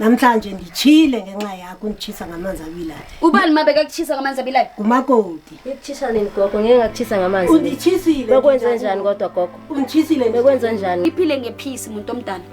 namhlanje nditshile ngenxa yakho unditshisa ngamanzi abilayo ubani mabe kakuchisa ngamanzi abilayo ngumakoti ngikuchisa nini gogo ngeke ngakuchisa ngamanzi unditshisile bekwenze njani kodwa gogo unditshisile bekwenze njani iphile ngephisi muntu omdala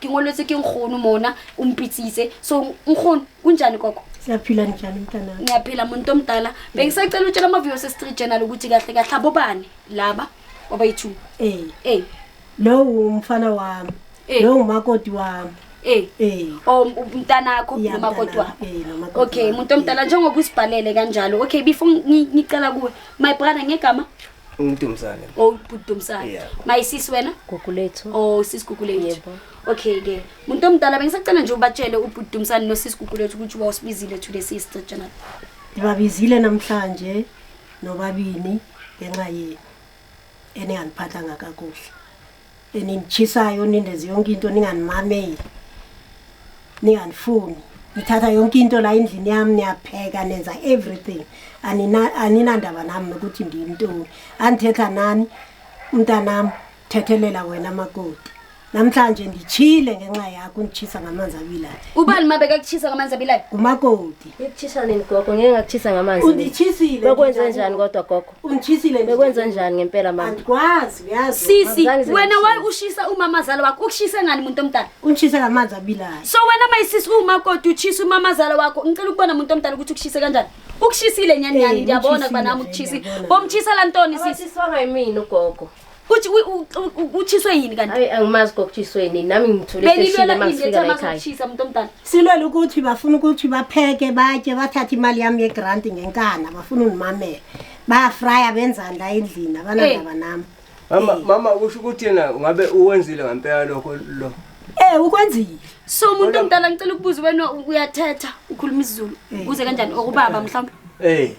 ke ngolwetse ke nkgono mona o mpitsitse so nkgono kunjani koko siyaphila njani mntana ngiyaphila muntu omdala bengisacela utshela amaviyo sestreet journal ukuthi kahle kahle abobani laba wabayi-two um ey lowo umfana wami Eh. lowo ngumakoti wami ey Eh. o mntanakho Ya, nomakoti mntanami. wakho Eh, nomakoti okay wami. muntu omdala njengoba usibhalele kanjalo okay before ngi- ngicela kuwe my brother ngegama Umdumsane. Oh, Dumsane. Yeah. My sis wena? Gugu lethu. Oh, sis Gugu lethu. Yebo. Okay ke. Muntu omdala bengisacela nje ubatshele ubhuti Dumsane no sis Gugu lethu ukuthi wawusibizile today sis Jonathan. Ngibabizile namhlanje nobabini ngenxa yenu eningangiphathanga kakuhle. eninichisayo nindenze yonke into ninganimameli ninganifuni nithatha yonke into la endlini yami niyapheka nenza everything aninandaba nami nokuthi ndiyimntoni andithetha nani umntanami thethelela wena makoti namhlanje ndichile ngenxa yakho unditshisa ngamanzi abilayo ubani uma bekakuchisa ngamanzi abilayo ngumakoti ikuchisa nini gogo ngeke ngakuchisa ngamanzi unditshisile bakwenze njani kodwa gogo ungitshisile nje. Bekwenza njani ngempela mama? Andikwazi uyazi. Sisi, Azange wena zingishise. waye ushisa umama zala wakho. Ukushise ngani muntu omdala? Ungitshise ngamanzi abilayo. So wena mayisisi uma kodwa utshisa umama zala wakho. Ngicela ukubona muntu omdala ukuthi ukushise kanjani. Ukushisile nyani nyani Eh, ngiyabona kuba ngitjhisile nami nje, ukutshisi. ngiyabona. Bomtshisa lantoni sisi? Sisonga yimina ugogo. Kuthi utshiswe yini kanti? Hayi angimazi kokutshiswe yini nami ngithule seshile masifika la ekhaya. Uthisa umuntu omdala. Silwela ukuthi bafuna ukuthi bapheke batye bathathe imali yami ye grant ngenkana bafuna ungimamela. Ba fryer benzani la endlini abanandaba nami. Mama mama usho ukuthi yena ngabe uwenzile ngempela lokho lo. Eh ukwenzile. So umuntu omdala ngicela ukubuza wena uyathetha ukhuluma isiZulu. Uze kanjani okubaba mhlawumbe? Eh.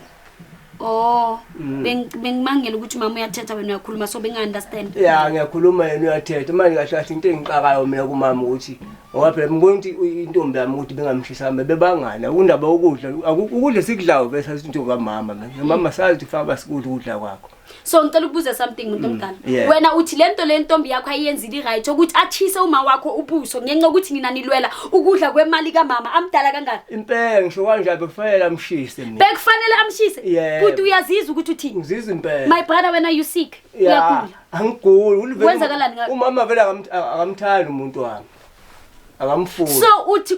Oh, Mm. beng- bengibangela ukuthi mama uyathetha wena uyakhuluma so bengi-understand. ya ngiyakhuluma yena uyathetha manje kahle kahle into engixakayo mina kumama ukuthi ngoba phela ngibona ukuthi uyi- intombi yami ukuthi bengamshisa mbe bebangani akundaba ukudla aku- ukudla esikudlayo vese sathi intombi kamama mina mama sazi ukuthi faka basikudla ukudla kwakho so ngicela ukubuza something muntu mm, omdala mm, yeah. wena uthi lento le ntombi yakho ayiyenzile i-right ukuthi achise uma wakho ubuso ngenxa ukuthi nina nilwela ukudla kwemali kamama amdala kangaka impela ngisho kanje bekufanele amshise mina bekufanele amshise yeah. kuthi uyazizwa ukuthi uthini ngizizwa impela my brother wena you sick yeah. uyagula angiguli kwenzakalani umama vele akamthandi umuntu wami akamfuni so uthi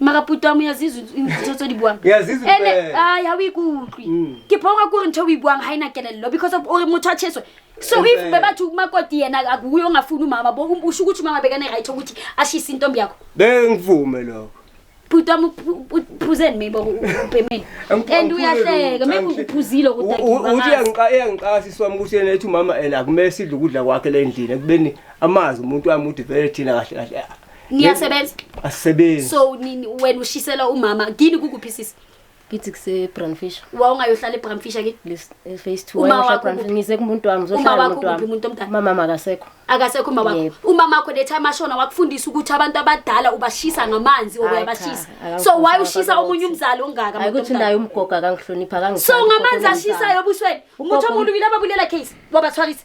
mara puto wa moya zizo ntho tse di buang Yeah, Zizo ene fela. ai ha o ikutlwe Mm. ke phoka kore ntho o e buang ha ina kelello because of ore motho a cheswe so if Fela. bebathi umakoti yena akuyo ngafuni umama bo usho ukuthi umama bekane right ukuthi ashise intombi yakho bengivume lokho puto mu phuzeni maybe ubhemeni Angiphuzile and uyahleka lutho, maybe angihle- uphuzile U- u- ukuthi ukuthi uyangiqa- uyangiqasa iswami ukuthi yena ethi umama ena akumele sidle ukudla kwakhe le ndlini ekubeni amazi umuntu wami ukuthi vele thina kahle kahle niyasebenza asebenzi so nini wena ushisela umama kini kukuphi sisi kithi kusebrandfish wawungayohlala ebramfisha ke face two Uma wayosha wakho Brandfish. kuphi? ngize kumuntu wami Uma ngizohlala wakho nomuntu kuphi, wami muntu omdala? umama akasekho akasekho umama wakho Yebo. umama wakho letha amashona wakufundisa ukuthi abantu abadala ubashisa ngamanzi or Hayi uyabashisa cha, so why akangifundisi ushisa abantu omunye ukuthi- umzali ongaka hayi muntu ukuthi omdala? naye umgogo akangihloniphi so ngamanzi ashisayo obusweni umuthi omulu yilaba bulela case wabathwalisa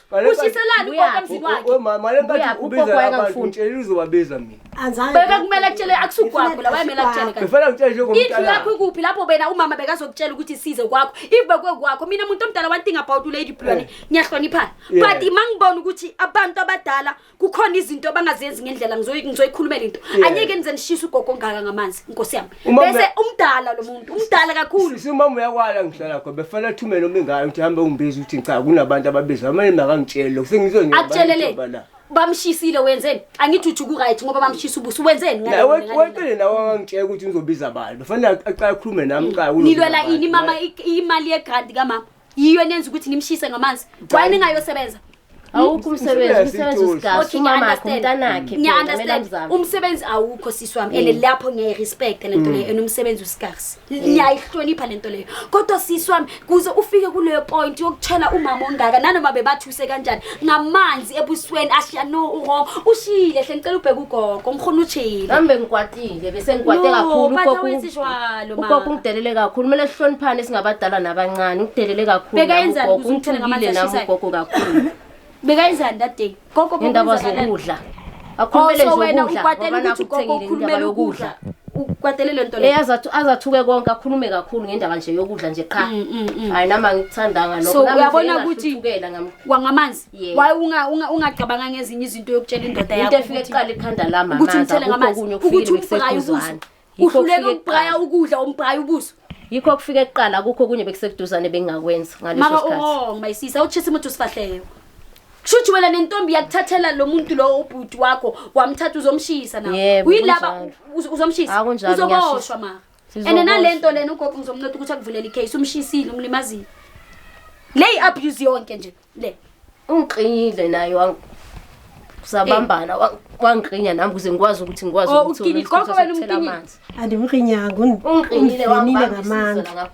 ushiselani ugogo emzini wakhe mama le nkathi ubiza abantu ngitshela uzobabiza mina beka kumele akutshele akusugwagula wayemele akutshele kanti ngifela ngitshele njengomuntu indlu yakho ikuphi lapho bena umama bekazokutshela ukuthi size kwakho if bekwe kwakho mina umuntu omdala one thing about ulady blwane ngiyahloniphana but mangibona ukuthi abantu abadala kukhona izinto abangazenzi ngendlela ngizoyikhulumela into anyeke nize nishise ugogo ongaka ngamanzi inkosi yami bese umdala lo muntu umdala kakhulu umama uyakwala ngihlala kho befana athumele uma ingane ukuthi hambe ungibize ukuthi ngicaka kunabantu ababiza amane makangitshele lokho sengizonyela bamshisile wenzeni angithi uthi kuright ngoba bamshisa ubuso wenzeni wentele nawe angangitshela ukuthi ngizobiza abantu bafana aqala akhulume nami qala nilwela ini mama imali yegrant kamama yiyo enenza ukuthi nimshise ngamanzi why ningayosebenza awukho umsebenzi umsebenzi usigazi umamakho umntanakhe ngiyaunderstand umsebenzi awukho sisi wami and mm. lapho ngiyayirespecta lento mm. leyo and umsebenzi usigazi mm. ngiyayihlonipha lento leyo kodwa sisi wami kuze ufike kuleyo point yokutshela umama ongaka nanoma bebathi use kanjani ngamanzi ebusweni ashiya no uwrong ushile hle ngicela ubheke ugogo umrhona utshile ngihambe ngikwatile bese ngikwate No, kakhulu but ugogo awenzi jwalo, ma. ugogo ungidelele kakhulu kumele sihloniphane singabadala nabancane ungidelele kakhulu Beka nami yenzani ugogo ukuze uthele ngamanzi ungithukile nami ashisayo? ugogo kakhulu bekayenzani that day gogo ngendaba bekwenzakala- zokudla akhulumele nje wena ukwatela ukuthi ugogo ukhulumele ukudla ukwatele lento le eyazathi azathuke konke akhulume kakhulu ngendaba nje yokudla nje qha mm, mm, mm. hayi nama ngikuthandanga lokho so uyabona ukuthi wangamanzi waye unga ungacabanga ngezinye izinto yokutshela indoda yakho into efike eqala ikhanda lama ukuthi umthele ngamanzi ukuthi umfakayo Yikho uhluleke okufike ukubraya kuqala. ukudla umbraya ubuso yikho okufike kuqala kukho okunye bekusekuduzane bengingakwenza ngaleso maka sikhathi uwrong my sis awutshisa umuntu usifahleyo kushuthi wena nentombi yakuthathela lo muntu lowo ubhuti wakho wamthatha uzomshisa na Yebo, uyilaba kunjalo. uz- uzomshisa Ah, kunjalo, uzoboshwa ngiyashisa. maka and Sizoboshwa. nale nto lena ugogo ngizomnotha ukuthi akuvulela icase umshisile umlimazile le i-abuse yonke nje le ungiqinile naye wang sabambana wa- wangiqinya nami ukuze ngikwazi ukuthi ngikwazi Oh, ukuthola uqinile. isikhathi Kodwa wena sokuthela umqinile. amanzi. andimqinyanga ungiqinile wangibamba isizo ngamandla laka-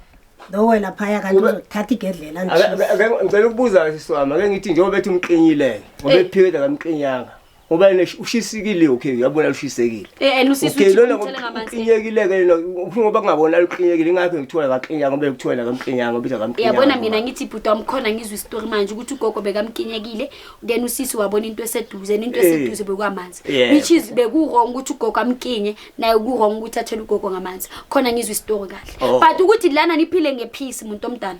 lowe laphaya kanti Ube- uzothatha igedlela Ake- ake- ake- ngicela ukubuza sisi wami ake ngithi njengoba bethi umqinyile-ke ngoba Eh. ephikela kamqinyanga ngoba yena ushisikile okay uyabona ushisekile eh and usisi okay lona ngokuqinyekile ke lona ngoba kungabona uqinyekile ngakho ngithola kaqinya ngoba ngithola kaqinya ngoba biza kaqinya yabona mina ngithi bhuti wamkhona ngizwe istory manje ukuthi ugogo bekamqinyekile then usisi wabona into eseduze into eh. eseduze bekwamanzi which is beku wrong ukuthi ugogo amkinye naye ku wrong ukuthi athele ugogo ngamanzi khona ngizwe istory kahle oh. but ukuthi lana niphile ngepeace umuntu omdala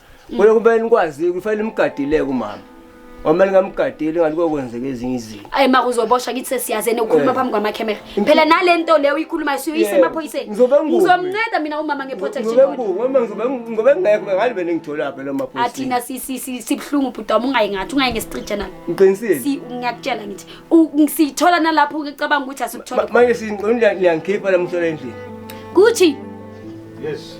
Kulo kube nikwazi kufanele imgadileke umama. Uma ningamgadeli ngathi kokwenzeka ezinye izinto. Ayi ma uzoboshwa kithi sesiyazene ukhuluma Eh. phambi kwama camera. Phela nalento leyo uyikhuluma siyuyise Yeah. emaphoyiseni. Ngizobe ngumi. Ngizomnceda mina umama nge protection Ngizobe order. ngu uma ngizobe ngizobe ngekho bengathi bene ngithola phela amaphoyisa. Athina si si si sibhlungu bhuti wami ungayi ngathi ungayi ngesitrijja nami. Ngiqinisile. Si ngiyakutshela ngithi u- ngisithola nalapho ngicabanga ukuthi Ma- asikuthola. Manje sinqonda liyangikhipha lamhlola endlini. Kuthi Yes.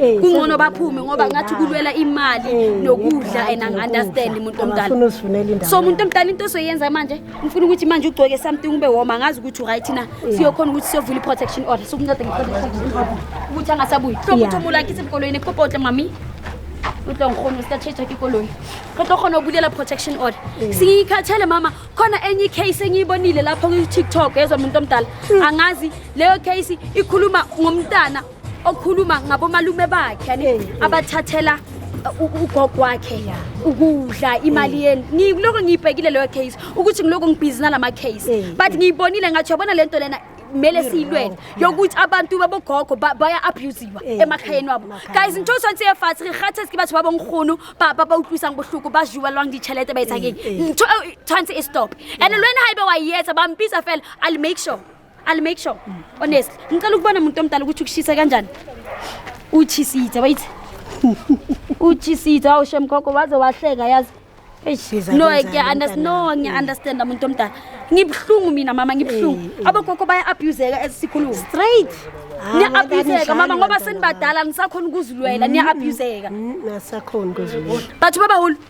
Eh, kungcono baphume ngoba eh, ngathi kulwela imali eh, nokudla and angi-understand umuntu omdala so umuntu omdala into ozoyenza manje ngifuna ukuthi manje ugcoke something ube woma angazi ukuthi uright na siyokhona ukuthi siyovula i-protection order sokunceda nge-protection order ukuthi angasabuyi hlobo ukuthi omulakhe isemkoloyini ekupopotle mami utlo ngikhona usitatsheja ke ikoloyi kodwa khona obulela protection order siyikhathele mama khona enye icase engiyibonile lapho kwi-tiktok ezwa muntu omdala hmm. angazi leyo case ikhuluma ngomntana okhuluma ngabomalume bakhe yani Eh, eh. abathathela uh, u- ugogo wakhe ukudla imali yenu ngiloko ngiyibhekile leyo case ukuthi ngiloko ngibhizi nalama case Eh, but ngiyibonile ngathi yabona lento lena kumele siyilwele yokuthi abantu babogogo ba- baya-abusiwa Eh, emakhayeni wabo emakhayeni. guys ntho tshwanetse e fatshe re kgathes ke batho ba bonkgono ba ba ba utlwisang bohloko ba jewelwang ditšhelete ba etsang eng Eh, eh. ntho eo e tshwanetse e stop and le wena ga ebe wa e etsa ba mpitsa fela i'll make sure I'll make sure. Honestly, ngicela ukubona umuntu omdala ukuthi ukushisa kanjani. Uchisithe, wait. Uchisithe awushe mkhokho waze wahleka yazi. Eish. Yiza No, kanjani ngiya understand. No, mntanami? ngiya understand umuntu omdala. Ngibhlungu mina mama, ngibhlungu. Abogogo baya abuseka esikhuluma. Straight. Ah, Niya wena abuseka kanishani mama ngoba bantwana senibadala nisakhona ukuzilwela, niya abuseka. bakho? Mm, Asakhona kuzulwa. But baba hulu,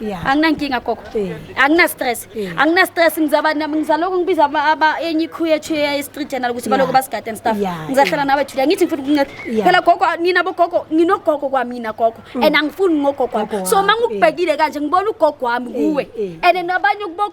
Yeah. anginankinga gogo Eh. anginastress Eh. anginastress ngizaba nam- ngizalokhu ngibiza aba- aba- enye ikhu yethu ye-street journal ukuthi Yeah. balokhu basigade and stuff Yeah, ngizahlala yeah. nawe julia ngithi ngifuna ukunceda Yeah. Mm. phela gogo nina bogogo nginogogo kwamina gogo and angifuni ngogogo Gogo wami so wami, ma ngikubhekile kanje ngibona ugogo wami kuwe eh. and nabanye kubo-